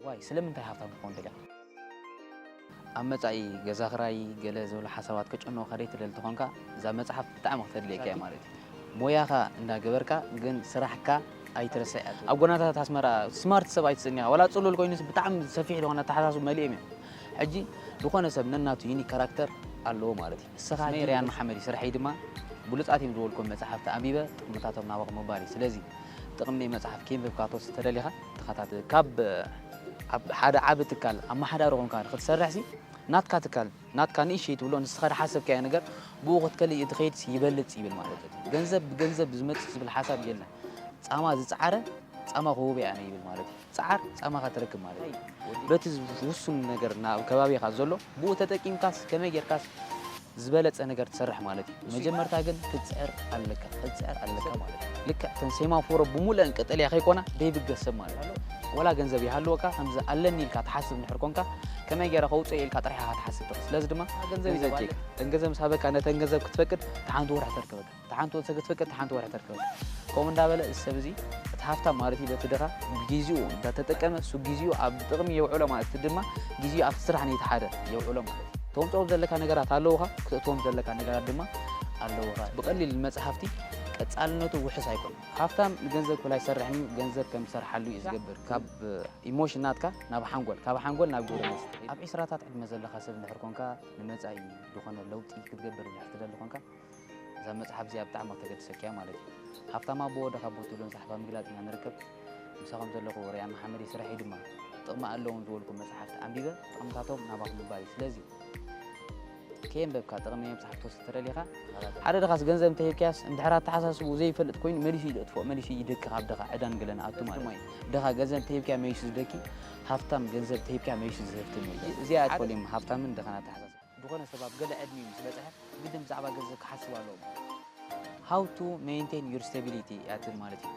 ዋይ ስለምንታይ ሃብታም ክኾን ደልኻ? ኣብ መጻኢ ገዛ ክራይ ገለ ዝበሉ ሓሳባት ከጨንቑኻ ደይትደሊ ተኾንካ እዛ መጽሓፍ ብጣዕሚ ክተድልየካ እያ ማለት እዩ። ሞያኻ እንዳ ገበርካ ግን ስራሕካ ኣይትረስዕ። ኣብ ጎናታት ኣስመራ ስማርት ሰብ ኣይትጽኒኻ ዋላ ጽሉል ኮይኑስ ብጣዕሚ ሰፊሕ ዝኾነ ኣተሓሳስብኡ መሊኦም እዮም። ሕጂ ዝኾነ ሰብ ነናቱ ዩኒክ ካራክተር ኣለዎ ማለት እዩ። እስመ የርያን መሓመድ እዩ፣ ስርሐይ ድማ ብሉጻት እዮም ዝበልክዎም መጻሕፍቲ ኣንቢበ ጥቕምታቶም ናበኹም ምባል እዩ። ስለዚ ጥቕሚ ናይ መጽሓፍ ኬንብብካ ክትወስድ ተደሊኻ ተኸታተል። ካብ ኣብ ሓደ ዓቢ ትካል ኣመሓዳሪ ኮንካ ንክትሰርሕሲ ናትካ ትካል ናትካ ንእሽተይ ትብሎ ንስኻ ዝሓሰብካዮ ነገር ብኡ ክትከልእ እትኸይድሲ ይበልጽ ይብል ማለት እዩ። ገንዘብ ብገንዘብ ዝመጽእ ዝብል ሓሳብ የለን። ጻማ ዝጸዓረ ጻማ ክህቦ ኣነ ይብል ማለት እዩ። ጸዓር ጻማኻ ትረክብ ማለት እዩ። በቲ ውሱን ነገር ኣብ ከባቢኻ ዘሎ ብኡ ተጠቂምካስ ከመይ ጌርካስ ዝበለጸ ነገር ትሰርሕ ማለት እዩ። መጀመርታ ግን ክትጽዕር ኣለካ ክትጽዕር ኣለካ ማለት እዩ። ልክዕ እተን ሴማፎሮ ብሙሉኤን ቀጠልያ ከይኮና ደይብገስ ሰብ ማለት እዩ። ወላ ገንዘብ ይሃልወካ ከምዚ ኣለኒ ኢልካ ትሓስብ እንድሕር ኮንካ ከመይ ጌረ ከውጽኦ ኢልካ ጥራሕ ኢኻ ክትሓስብ ትኽእል። ስለዚ ድማ ገንዘብ እዩ ዘድልየካ። እተን ገንዘብ ምስ ሃበካ ነተን ገንዘብ ክትፈቅድ እታ ሓንቲ ወርሒ ተርከበካ። እታ ሓንቲ ወርሒ ተገትፈቀ እታ ሓንቲ ወርሒ ተርከበ ከምኡ እንዳበለ እዚ ሰብ እዚ እቲ ሃፍታም ማለት እዩ በቲ ድኻ ግዜኡ እንዳተጠቀመ እሱ ግዜኡ ኣብ ጥቕሚ የውዕሎ ማለት እቲ ድማ ግዜኡ ኣብቲ ስራሕ ነቲ ሓደ የውዕሎ ማለት እዩ ተምፅኦም ዘለካ ነገራት ኣለውኻ ክተእትዎም ዘለካ ነገራት ድማ ኣለውኻ ብቐሊል መፅሓፍቲ ቀፃልነቱ ውሕስ ኣይኮነ ሃፍታም ንገንዘብ ክብል ኣይሰርሕን እዩ ገንዘብ ከም ዝሰርሓሉ እዩ ዝገብር ካብ ኢሞሽን ናትካ ናብ ሓንጎል ካብ ሓንጎል ናብ ግብረ መልሲ ኣብ ዒስራታት ዕድመ ዘለካ ሰብ እንድሕር ኮንካ ንመፃኢ ዝኾነ ለውጢ ክትገብር እንድሕር ትደሊ ኮንካ እዛ መጽሓፍ እዚኣ ብጣዕሚ ከተገድሰኪ እያ ማለት እዩ። ሃፍታም ኣቦ ወደኻ ኣቦ ትብሎ ንጸሓፋ ምግላጽ ኢና ንርከብ። ምሳኹም ዘለኹ ርያ መሓመድ እየ፣ ስርሐይ ድማ ጥቕሚ ኣለዎም ዝበልኩም መጽሓፍቲ ኣንቢበ ጥቕምታቶም ናባኹም ምባል እዩ። ስለዚ ከየንበብካ ጥቕሚ ናይ መጽሓፍ ትወስድ ተደሊኻ ተኸታተል። ሓደ ድኻስ ገንዘብ እንተሂብካያስ እንድሕር ኣተሓሳስብኡ ዘይፈልጥ ኮይኑ መሊሱ እዩ ዘጥፍኦ፣ መሊሱ እዩ ይደኪ ካብ ድኻ ዕዳን ገለን ኣቱ ማለት እዩ። ድኻ ገንዘብ እንተሂብካዮ መሊሱ ዝደኪ፣ ሃፍታም ገንዘብ እንተሂብካዮ መሊሱ ዝህፍትም የለን። እዚኣ እያ ትፈልዮም ሃፍታምን ድኻን ኣተሓሳስባ። ዝኾነ ሰብ ኣብ ገለ ዕድሚኡ ምስ በጽሐ ግድን ብዛዕባ ገንዘብ ክሓስብ ኣለዎ ማለት እዩ። How to Maintain Your Stability እያ ትብል ማለት እዩ።